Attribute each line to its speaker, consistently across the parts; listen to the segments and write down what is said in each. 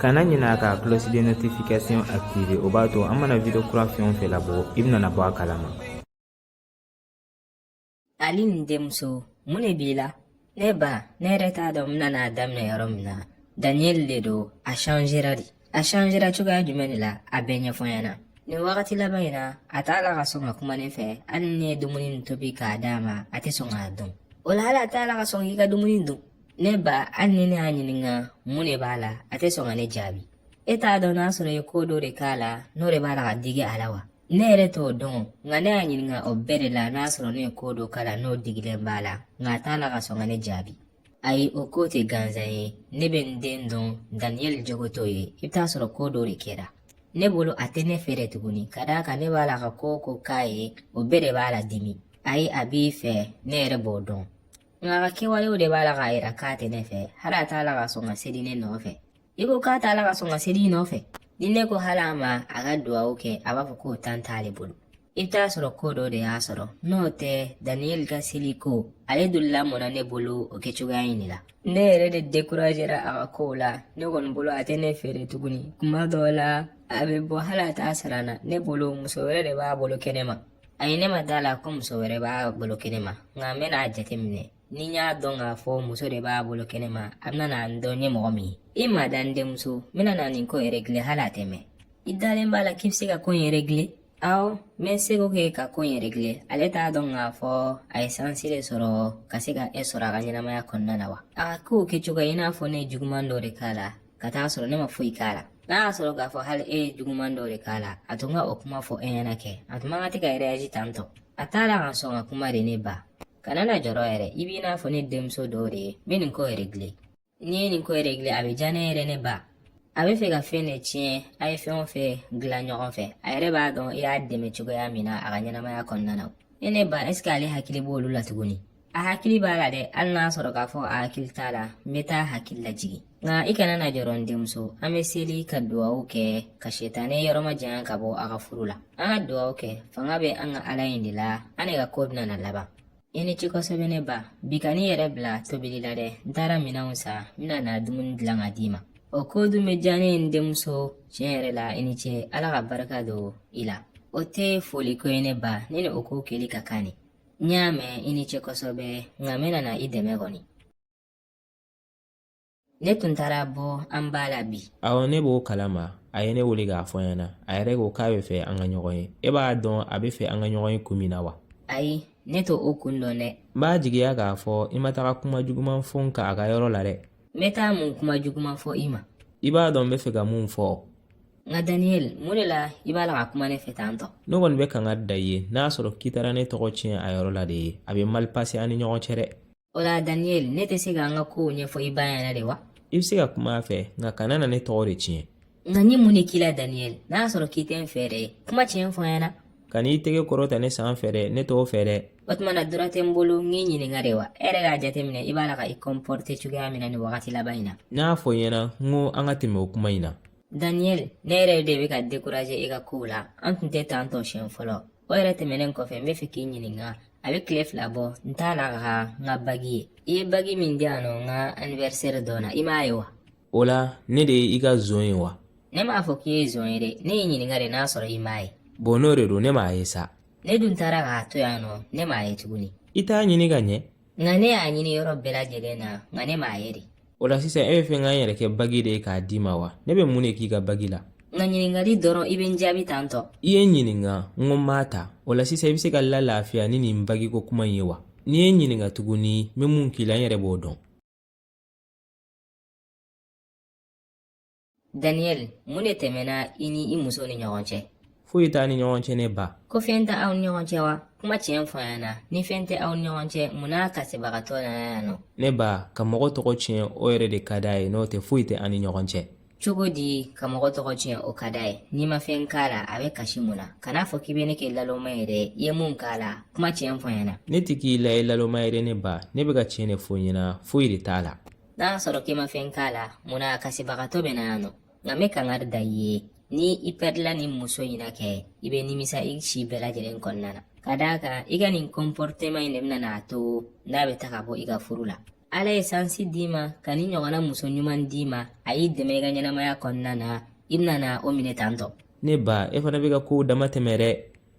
Speaker 1: kana ɲinɛ a ka cloche de notification activer o b'a to an mana video kura fɛn o fɛn labɔ i bɛna bɔ a kalama ali nin denmuso mun de b'i la ne ba ne yɛrɛ t'a dɔn n bɛna a daminɛ yɔrɔ min na daniyɛli de don a changera de a changera cogoya jumɛn de la a bɛɛ ɲɛfɔ n ɲɛna nin wagati laban in na a t'a la ka sɔn ka kuma ne fɛ hali ni ne ye dumuni nin tobi k'a d'a ma a tɛ sɔn k'a dun o la hali a t'a la ka sɔn k'i ka dumuni dun ne ba hali ni ne y'a ɲininka mun de b'a la a tɛ sɔn ka ne jaabi e t'a dɔn n'a sɔrɔ i ye ko dɔ de k'a la n'o de b'a la ka digi a la wa ne yɛrɛ t'o dɔn nka ne y'a ɲininka o bɛɛ de la n'a sɔrɔ ne ye ko dɔ k'a la n'o digilen b'a la nka a t'a la ka sɔn ka ne jaabi ayi o ko tɛ gansan ye ne bɛ n den dɔn daniyɛli jogo t'o ye i bɛ t'a sɔrɔ ko dɔ de kɛra ne bolo a tɛ ne fɛ de tuguni ka d'a kan ne b'a la ka ko o ko k'a ye o bɛɛ de b'a ladimi ayi a b'i fɛ ne yɛrɛ b'o dɔn A ka kɛwalew de b'a la k'a yira k'a tɛ ne fɛ hali a t'a la ka sɔn ka seli ne nɔfɛ i ko k'a t'a la ka sɔn ka seli i nɔfɛ ni ne ko hali a ma a ka duwawu kɛ a b'a fɔ k'o tan t'ale bolo i bɛ t'a sɔrɔ ko dɔ de y'a sɔrɔ n'o tɛ daniyɛli ka seli ko ale dun lamɔna ne bolo o kɛcogoya in de la ne yɛrɛ de dekurajera a ka kow la ne kɔni bolo a tɛ ne fɛ de tuguni kuma dɔw la a bɛ bɔ hali a t'a sara n na ne bolo muso wɛrɛ de b'a bolo kɛnɛ ma Ayi ne ma da a la ko muso wɛrɛ b'a bolo kɛnɛ ma nka n bɛna a jateminɛ ni n y'a dɔn k'a fɔ muso de b'a bolo kɛnɛ ma a bɛna na n dɔn n ye mɔgɔ min ye i mada n denmuso n bɛna na nin ko in regler hali a tɛ mɛn i dalen b'a la k'i bɛ se ka ko in regler awɔ n bɛ n seko kɛ ka ko in regler ale t'a dɔn k'a fɔ a ye sansi de sɔrɔ ka se ka e sɔrɔ a ka ɲɛnamaya kɔnɔna na wa a k'o kɛcogo i n'a fɔ ne ye juguman dɔ de k'a la ka t'a sɔrɔ ne ma foyi k'a la n'a y'a sɔrɔ k'a fɔ hali e ye juguman dɔ de k'a la a tun ka o kuma fɔ e ɲɛna kɛ a tun man kan de ka rɛyaji tan tɔ a t'a la ka sɔn ka kuma de ne ba kana na jɔrɔ yɛrɛ i b'i n'a fɔ ne denmuso dɔ de ye n bɛ nin ko in regler n'i ye nin ko in regler a bɛ diya ne ye dɛ ne ba a b'a fɛ ka fɛn de tiɲɛ a ye fɛn o fɛn dilan ɲɔgɔn fɛ a yɛrɛ b'a dɔn i y'a dɛmɛ cogoya min na a ka ɲɛnamaya kɔnɔna na ne ne ba ɛseke ale hakili b'olu la tuguni a hakili b'a la dɛ hali n'a sɔrɔ k'a fɔ a hakili t'a la n bɛ t'a hakili lajigin nka i kana na jɔrɔ n denmuso an bɛ seli ka duwawu kɛ ka setanɛ yɔrɔ majanya ka bɔ a ka furu la an ka duwawu kɛ fanga bɛ an ka ala in de la an de ka ko bɛna na laban i ni ce kosɛbɛ ne ba bi kan'i yɛrɛ bila tobili la dɛ n taara minɛnw san n bɛna na dumuni dilan ka d'i ma o ko dun bɛ diya n ye n denmuso tiɲɛ yɛrɛ la i ni ce ala ka barika don i la o tɛ foliko ye ne ba ne ni o ko kɛli ka kan de N y'a mɛn i ni ce kosɛbɛ nka n bɛna na i dɛmɛ kɔni. Ne tun taara bɔ an ba la bi awɔ ne b'o kalama a ye ne wele k'a fɔ n ɲɛna a yɛrɛ ko k'a bɛ fɛ an ka ɲɔgɔn ye e b'a dɔn a bɛ fɛ an ka ɲɔgɔn ye kun min na wa ayi ne t'o kun dɔn dɛ n b'a jigiya k'a fɔ i ma taga kuma juguman fɔ n kan a ka yɔrɔ la dɛ n bɛ taa mun kuma juguman fɔ i ma i b'a dɔn n bɛ fɛ ka mun fɔ nka daniyɛli mun de la i b'a la ka kuma ne fɛ tan tɔ ne kɔni bɛ kangari da i ye n'a sɔrɔ k'i taara ne tɔgɔ tiɲɛ a yɔrɔ la de ye a bɛ mali pase an ni ɲɔgɔn cɛ dɛ o la daniyɛli ne tɛ se ka n ka kow ɲɛfɔ i ba ye de wa i bɛ se ka kuma a fɛ nka kana na ne tɔgɔ de tiɲɛ nka n ye mun de k'i la daniyɛli n'a sɔrɔ k'i tɛ n fɛ dɛ kuma tiɲɛ fɔ n ɲɛna kan'i tɛgɛ kɔrɔta ne san fɛ dɛ ne t'o fɛ dɛ o tuma na droit tɛ n bolo n k'i ɲininka de wa e yɛrɛ k'a jateminɛ i b'a la ka i kɔnpɔrite cogoya min na nin wagati laban in na n y'a fɔ i ɲɛna n ko an ka tɛmɛ o kuma in na daniyɛli ne yɛrɛ de bɛ ka dekuraze e ka kow la an tun tɛ tan tɔ siɲɛ fɔlɔ o yɛrɛ tɛmɛnen kɔfɛ n bɛ fɛ k'i ɲininka a bɛ tile fila bɔ n t'a la ka n ka bagi ye i ye bagi min di yan nɔ n ka anniversaire don na i m'a ye wa o la ne de ye i ka zon ye wa ne m'a fɔ k'i ye zon ye dɛ ne y'i ɲininka de n'a sɔrɔ i m'a ye bɔn n'o de don ne m'a ye sa ne dun taara k'a to yan nɔ ne m'a ye tuguni i t'a ɲini ka ɲɛ nka ne y'a ɲini yɔrɔ bɛɛ lajɛlen na nka ne m'a ye de o la sisan e bɛ fɛ n ka n yɛrɛ kɛ bagi de ye k'a d'i ma wa ne bɛ mun de k'i ka bagi la n ka ɲininkali dɔrɔn i bɛ n jaabi tan tɔ i ye n ɲininka n ko n m'a ta o la sisan i bɛ se ka la lafiya ni nin bagiko kuma in ye wa n'i ye n ɲininka tuguni n bɛ mun k'i la n yɛrɛ b'o dɔn Daniel, mun de tɛmɛna i ni i muso ni ɲɔgɔn cɛ? Foyi t'an ni ɲɔgɔn cɛ ne ba. Ko fɛn tɛ aw ni ɲɔgɔn cɛ wa? Kuma tiɲɛ fɔ n ɲɛna. Ni fɛn tɛ aw ni ɲɔgɔn cɛ, mun na a kasibagatɔ nana yan nɔ? Ne ba, ka mɔgɔ tɔgɔ tiɲɛ o yɛrɛ de ka d'a ye n'o tɛ foyi tɛ an ni ɲɔgɔn cɛ. Cogo di ka mɔgɔ tɔgɔ tiɲɛ o ka d'a ye? N'i ma fɛn k'a la, a bɛ kasi mun na? Kan'a fɔ k'i bɛ ne kɛ laloma ye dɛ, i ye mun k'a la, kuma tiɲɛ fɔ n ɲɛna. Ne tɛ k'i la ye laloma ye dɛ ne ba, ne bɛ ka tiɲɛ de fɔ i ɲɛna, foyi de t'a la. n'a y'a sɔrɔ k'i ma fɛn k'a la mun na a kasibagatɔ bɛ na yan nɔ nka n bɛ kangari da i ye ni i pɛrila ni muso in na kɛ i bɛ nimisa i si bɛɛ lajɛlen kɔnɔna na ka d'a kan i ka nin kɔnpɔriteman in de bɛna n'a to n'a bɛ taa ka bɔ i ka furu la ala ye sansi d'i ma ka ni ɲɔgɔnna muso ɲuman d'i ma a y'i dɛmɛ i ka ɲɛnamaya kɔnɔna na i bɛna na o minɛ tan tɔ ne ba e fana bɛ ka kow dama tɛmɛ dɛ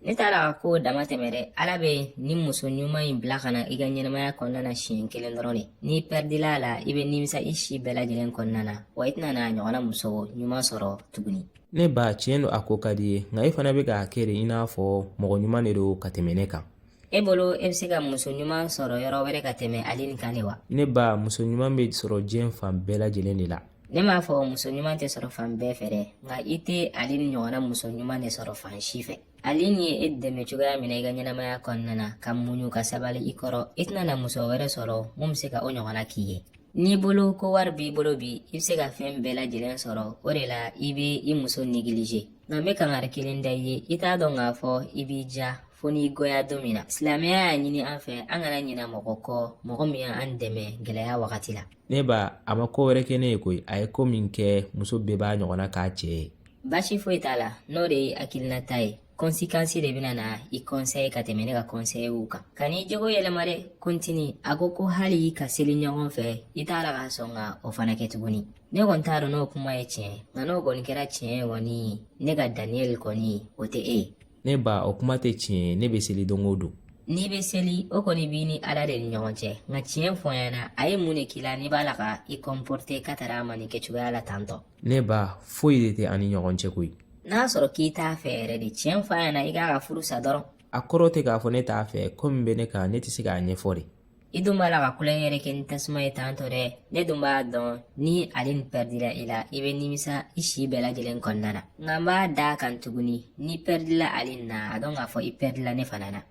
Speaker 1: ne t'a la ka kow dama tɛmɛ dɛ ala bɛ ni muso ɲuman in bila ka na i ka ɲɛnamaya kɔnɔna na siɲɛ kelen dɔrɔn de n'i pɛridila a la i bɛ nimisa i si bɛɛ lajɛlen kɔnɔna na wa i tɛna na a ɲɔgɔnna muso ɲuman sɔrɔ tuguni ne ba tiɲɛ don a ko ka di i ye nka i fana bɛ k'a kɛ de i n'a fɔ mɔgɔ ɲuman de don ka tɛmɛ ne kan e bolo e bɛ se ka muso ɲuman sɔrɔ yɔrɔ wɛrɛ ka tɛmɛ ale nin kan de wa ne ba muso ɲuman bɛ sɔrɔ diɲɛ fan bɛɛ lajɛlen de la ne m'a fɔ muso ɲuman tɛ sɔrɔ fan bɛɛ fɛ dɛ nka i tɛ ale nin ɲɔgɔnna muso ɲuman de sɔrɔ fan si fɛ ale nin ye e dɛmɛ cogoya min na i ka ɲɛnamaya kɔnɔna na ka muɲu ka sabali i kɔrɔ i tɛna na muso wɛrɛ sɔrɔ min bɛ se ka o ɲɔgɔnna k'i ye n'i bolo ko wari b'i bolo bi i bɛ se ka fɛn bɛɛ lajɛlen sɔrɔ o de la i bɛ i muso negilize nka n bɛ kangari kelen da i ye i t'a dɔn k'a fɔ i bɛ diya fo n'i goya don min na silamɛya y'a ɲini an fɛ an kana ɲina mɔgɔ kɔ mɔgɔ min y'an dɛmɛ gɛlɛya wagati la ne ba a ma ko wɛrɛ kɛ ne ye koyi a ye ko min kɛ muso bɛɛ b'a ɲɔgɔnna k'a cɛ ye baasi foyi t'a la n'o de ye hakilinata ye kɔnsikansi de bɛna na i kɔnsɛye ka tɛmɛ ne ka kɔnsɛyew kan ka n'i jogo yɛlɛma dɛ kontini a ko ko hali ka seli ɲɔgɔn fɛ i t'a la ka sɔn ka o fana kɛ tuguni ne kɔni t'a dɔn n'o kuma ye tiɲɛ nka n'o kɔni kɛra tiɲɛ ye kɔni ne ka daniyɛli kɔni o tɛ e ye ne ba o kuma tɛ tiɲɛ ye ne bɛ seli don o don n'i bɛ seli o kɔni b'i ni ala de ni ɲɔgɔn cɛ nka tiɲɛ fɔ n ɲɛna a ye mun de k'i la n'i b'a la ka i kɔnpɔrite ka taara a ma nin kɛcogoya la tantɔ ne ba foyi de tɛ an ni ɲɔgɔn cɛ koyi n'a sɔrɔ k'i t'a fɛ yɛrɛ de tiɲɛ fɔ a ɲɛna i k'a ka furu sa dɔrɔn a kɔrɔ tɛ k'a fɔ ne t'a fɛ ko min bɛ ne kan ne tɛ se k'a ɲɛfɔ de I dun b'a la ka tulon yɛrɛ kɛ ni tasuma ye tan tɔ dɛ ne dun b'a dɔn ni ale nin pɛridila i la i bɛ nimisa i si bɛɛ lajɛlen kɔnɔna na nka n b'a d'a kan tuguni n'i pɛridila ale nin na a dɔn k'a fɔ i pɛridila ne fana na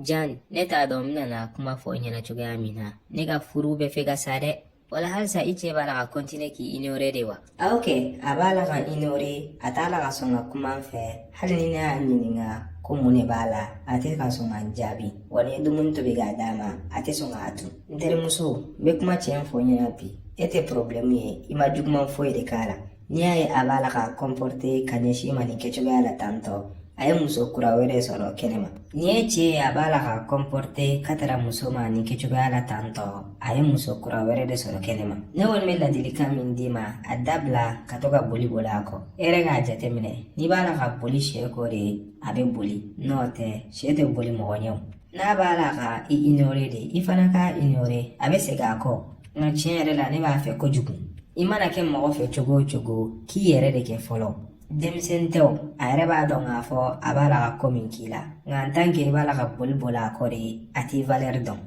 Speaker 1: jan ne t'a dɔn n bɛna kuma fɔ i ɲɛna cogoya min na ne ka furu bɛ fɛ ka sa dɛ wala halisa i cɛ b'a la ka kɔntine k'i inore de wa awɔ kɛ a b'a la ka n inore a t'a la ka sɔn ka kuma n fɛ hali ni ne y'a ɲininka ko mun de b'a la a tɛ ka sɔn ka n jaabi wa ni n ye dumuni tobi k'a d'a ma a tɛ sɔn k'a dun n terimuso n bɛ kuma tiɲɛ fɔ i ɲɛna bi e tɛ porobilɛmu ye i ma juguman foyi de k'a la n'i y'a ye a b'a la ka kɔnpɔrite ka ɲɛsin i ma nin kɛcogoya la tantɔ a ye muso kura wɛrɛ sɔrɔ kɛnɛ ma n'i ye cɛ ye a b'a la ka kɔnpɔrite ka taara muso ma nin kɛcogoya la tantɔ a ye muso kura wɛrɛ de sɔrɔ kɛnɛ ma ne kɔni bɛ ladilikan min d'i ma a dabila ka to ka boli boli a kɔ e yɛrɛ k'a jateminɛ n'i b'a la ka boli cɛ kɔ de a bɛ boli n'o tɛ cɛ tɛ boli mɔgɔ ɲɛw n'a b'a la ka i ignore de i fana k'a ignore a bɛ segin a kɔ nka tiɲɛ yɛrɛ la ne b'a fɛ kojugu i mana kɛ mɔgɔ fɛ cogo o cogo k'i yɛrɛ de kɛ fɔlɔ denmisɛnnin tɛ o a yɛrɛ b'a dɔn k'a fɔ a b'a la ka ko min k'i la nka an tan ke i b'a la ka boli boli a kɔ de a t'i valɛri dɔn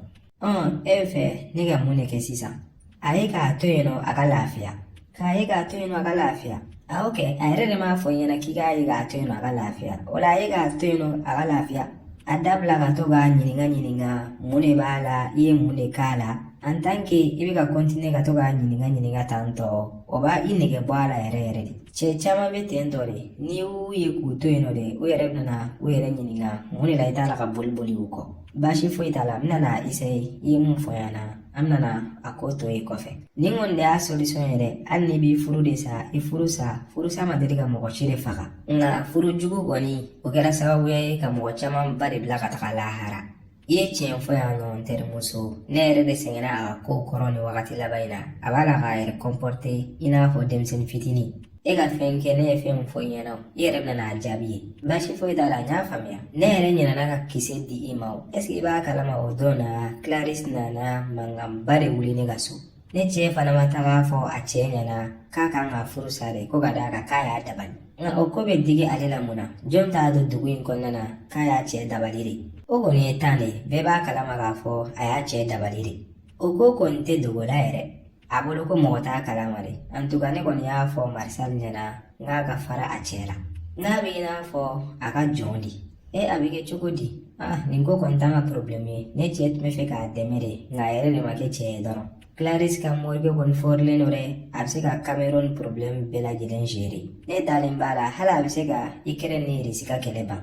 Speaker 1: ɔn e b'a fɛ ne ka mun de kɛ sisan A ye k'a to yen nɔ a ka lafiya k'a ye k'a to yen nɔ a ka lafiya awɔ kɛ a yɛrɛ de m'a fɔ n ɲɛna k'i k'a ye k'a to yen nɔ a ka lafiya o la a ye k'a to yen nɔ a ka lafiya a dabila ka to k'a ɲininka ɲininka mun de b'a la i ye mun de k'a la an tan ke i bɛ ka kɔntine ka to k'a ɲininka ɲininka tan tɔ o b'i nɛgɛ bɔ a la yɛrɛ yɛrɛ de cɛ caman bɛ ten tɔ de n'i y'u ye k'u to yen nɔ de u yɛrɛ bɛna u yɛrɛ ɲininka mun de la i t'a la ka boli boli u kɔ baasi foyi t'a la n bɛna isaye i ye mun fɔ n ɲɛna an bɛna a ko to yen kɔfɛ nin kɔni de y'a solution ye dɛ hali n'i b'i furu de sa i furu sa furu sa ma deli ka mɔgɔ si de faga nka furu jugu kɔni o kɛra sababuya ye ka mɔgɔ camanba de bila ka taga lahara i ye tiɲɛ fɔ yan nɔ n terimuso ne yɛrɛ de sɛgɛnna a ka kow kɔrɔ nin wagati laban in na a b'a la k'a yɛrɛ kɔnpɔrte i n'a fɔ denmisɛnnin fitinin e ka fɛn kɛ ne ye fɛn min fɔ i ɲɛna o i yɛrɛ bɛna n'a jaabi ye baasi foyi t'a la n y'a faamuya ne yɛrɛ ɲinɛna ka kisɛ di i ma o ɛseke i b'a kalama o don na claris nana mankanba de wuli ne ka so ne cɛ fana ma taga a fɔ a cɛ ɲɛna k'a kan ka furu sa de ko ka d'a kan k'a y'a dabali nka o ko bɛ digi ale la mun na jɔn t'a don dugu in kɔnɔna na k'a y'a cɛ dabali de o kɔni ye tan de ye bɛɛ b'a kalama k'a fɔ a y'a cɛ dabali de o ko kɔni tɛ dogo la yɛrɛ a bolo ko mɔgɔ t'a kalama dɛ antuka ne kɔni y'a fɔ marisal ɲɛna n k'a ka fara a cɛ la nka a bɛ i n'a fɔ a ka jɔn de e a bɛ kɛ cogo di ah nin ko kɔni t'an ka porobilɛmu ye ne cɛ tun b'a fɛ k'a dɛmɛ de nka a yɛrɛ de ma kɛ cɛ ye dɔrɔn claris ka morikɛ kɔni fɔrilen don dɛ a bɛ se ka cameroun porobilɛmu bɛɛ lajɛlen gere ne dalen b'a la hali a bɛ se ka ikɛrɛn ni irisi ka kɛlɛ ban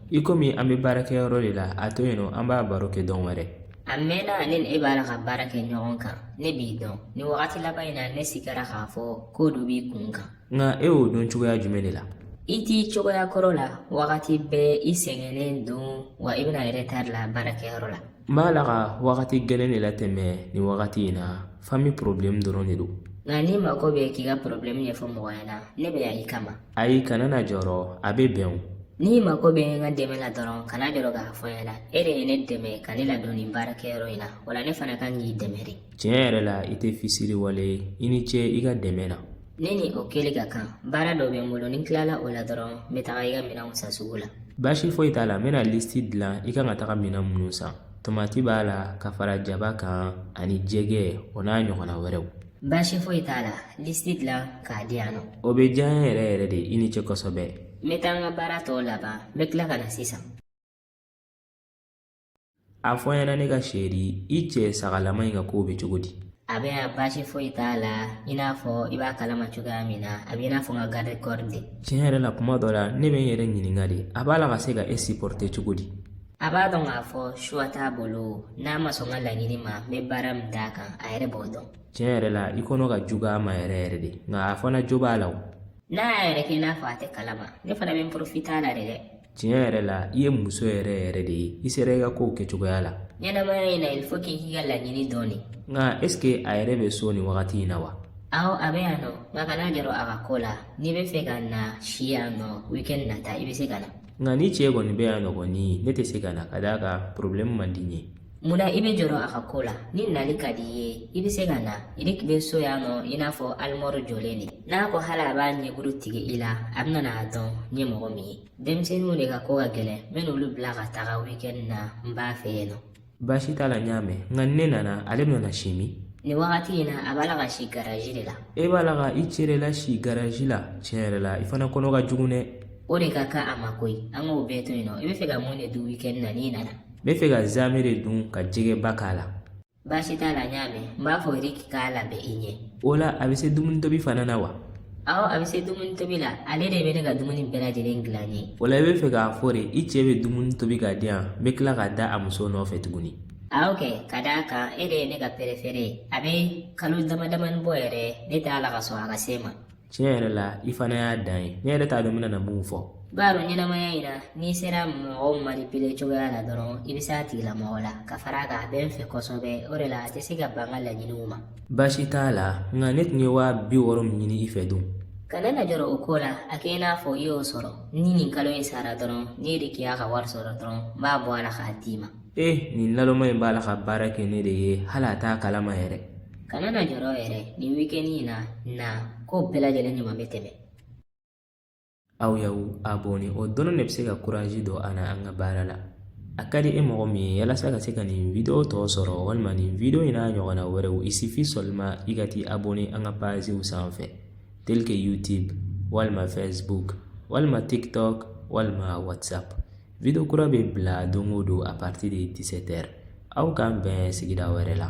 Speaker 1: ikomi an bɛ baarakɛyɔrɔ de la a to yen nɔ an b'a baro kɛ don wɛrɛ a mɛnna ne ni e b'a la ka baara kɛ ɲɔgɔn kan ne b'i dɔn nin wagati laban in na ne sigara k'a fɔ ko dɔ b'i kun kan nka e y'o dɔn cogoya jumɛn de la i t'i cogoya kɔrɔ la wagati bɛɛ i sɛgɛnnen don wa i bɛ na retard la baarakɛyɔrɔ la n b'a la ka wagati gɛlɛn de latɛmɛ nin wagati in na fami porobilɛmu dɔrɔn de don nka n'i mago bɛ k'i ka porobilɛmu ɲɛfɔ mɔgɔ ɲɛna ne bɛ yan i kama ayi kana na jɔrɔ a bɛ bɛn o n'i mago bɛ n ka dɛmɛ la dɔrɔn kana jɔrɔ k'a fɔ n ɲɛna e de ye ne dɛmɛ ka ne ladon nin baarakɛyɔrɔ in na o la ne fana kan k'i dɛmɛ de tiɲɛ yɛrɛ la i tɛ fisiriwale ye i ni ce i ka dɛmɛ na ne ni o kɛli ka kan baara dɔ bɛ n bolo ni n tilala o la dɔrɔn n bɛ taga i ka minɛnw san sugu la baasi foyi t'a la n bɛna lisiti dilan i kan ka taga minɛn minnu san tomati b'a la ka fara jaba kan ani jɛgɛ o n'a ɲɔgɔnna wɛrɛw baasi foyi t'a la lisiti dilan k'a di yan nɔ o bɛ diya n ye yɛrɛ yɛrɛ de i ni ce kosɛbɛ n bɛ taa n ka baara tɔw laban n bɛ tila ka na sisan a fɔ n ɲɛna ne ka chérie i cɛ sagalama in ka kow bɛ cogo di a bɛ yan baasi foyi t'a la i n'a fɔ i b'a kalama cogoya min na a bɛ i n'a fɔ n ka garde corps de tiɲɛ yɛrɛ la kuma dɔ la ne bɛ n yɛrɛ ɲininka de a b'a la ka se ka e supporter cogo di a b'a dɔn k'a fɔ choix t'a bolo n'a ma sɔn n ka laɲini ma n bɛ baara min d'a kan a yɛrɛ b'o dɔn tiɲɛ yɛrɛ la i kɔnɔ ka jugu a ma yɛrɛ yɛrɛ de nka a fana jo b'a la o n'a y'a yɛrɛ kɛ i n'a fɔ a tɛ kalama ne fana bɛ n porofita a la de dɛ tiɲɛ yɛrɛ la i ye muso yɛrɛ yɛrɛ de ye i sera i ka kow kɛcogoya la ɲɛnamaya in na il faut k'i k'i ka laɲini dɔn de nka est ce que a yɛrɛ bɛ so nin wagati in na wa awɔ a bɛ yan nɔ nka kana jɔrɔ a ka ko la n'i bɛ fɛ ka na si yan nɔ weekend nata i bɛ se ka na nka n'i cɛ kɔni bɛ yan nɔ kɔni ne tɛ se ka na ka d'a kan problème man di n ye Munna i bɛ jɔrɔ a ka ko la ni nali ka di i ye i bɛ se ka na Eric bɛ so yan nɔ i n'a fɔ alimɔri jɔlen de n'a ko hali a b'a ɲɛkuru tigɛ i la a bɛna n'a dɔn n ye mɔgɔ min ye denmisɛnninw de ka ko ka gɛlɛn n bɛ n'olu bila ka taga weekend na n b'a fɛ yen nɔ baasi t'a la n y'a mɛn nka ni ne nana ale bɛna si min nin wagati in na a b'a la ka si garaji de la e b'a la ka i cɛ de lasi garaji la tiɲɛ yɛrɛ la i fana kɔnɔ ka jugu dɛ o de ka kan a ma koyi an k'o bɛɛ to yen nɔ i bɛ fɛ ka mun de dun weekend na n'i nana n bɛ fɛ ka zamɛ de dun ka jɛgɛba k'a la baasi t'a la n y'a mɛn n b'a fɔ Eric k'a labɛn i ɲɛ o la a bɛ se dumuni tobi fana na wa awɔ a bɛ se dumuni tobi la ale de bɛ ne ka dumuni bɛɛ lajɛlen dilan n ye o la i bɛ fɛ k'a fɔ de i cɛ bɛ dumuni tobi k'a diya n bɛ tila ka da a muso nɔfɛ tuguni awɔ kɛ ka d'a kan e de ye ne ka perefere ye a bɛ kalo dama damani bɔ yɛrɛ ne t'a la ka sɔn a ka se n ma tiɲɛ yɛrɛ la i fana y'a dan ye ne yɛrɛ t'a dɔn n bɛna na mun fɔ i b'a dɔn ɲɛnamaya in na n'i sera mɔgɔw manipile cogoya la dɔrɔn i bɛ se a tigilamɔgɔ la ka fara a kan a bɛ n fɛ kosɛbɛ o de la a tɛ se ka ban n ka laɲiniw ma baasi t'a la nka ne tun ye waa bi wɔɔrɔ min ɲini i fɛ dun kana na jɔrɔ o ko la a kɛ i n'a fɔ i y'o sɔrɔ ni nin kalo in sara dɔrɔn n'Eric y'a ka wari sɔrɔ dɔrɔn n b'a bɔ a la k'a d'i ma ee nin lalɔma in b'a la ka baara kɛ ne de ye hali a t'a kalama yɛrɛ kana na jɔrɔ yɛrɛ nin wikɛni in na na ko bɛɛ lajɛlen ɲuman bɛ tɛmɛ aw y'aw abɔne o dɔrɔn de bɛ se ka kurazi don an na an ka baara la a ka di e mɔgɔ min ye yalasa ka se ka nin video tɔ sɔrɔ walima nin video in n'a ɲɔgɔnna wɛrɛw il suffit seulement i ka t'i abɔne an ka paziw sanfɛ tel que youtube walima facebook walima tiktok walima whatsapp video kura bɛ bila don o don à partir de 17 heures aw k'an bɛn sigida wɛrɛ la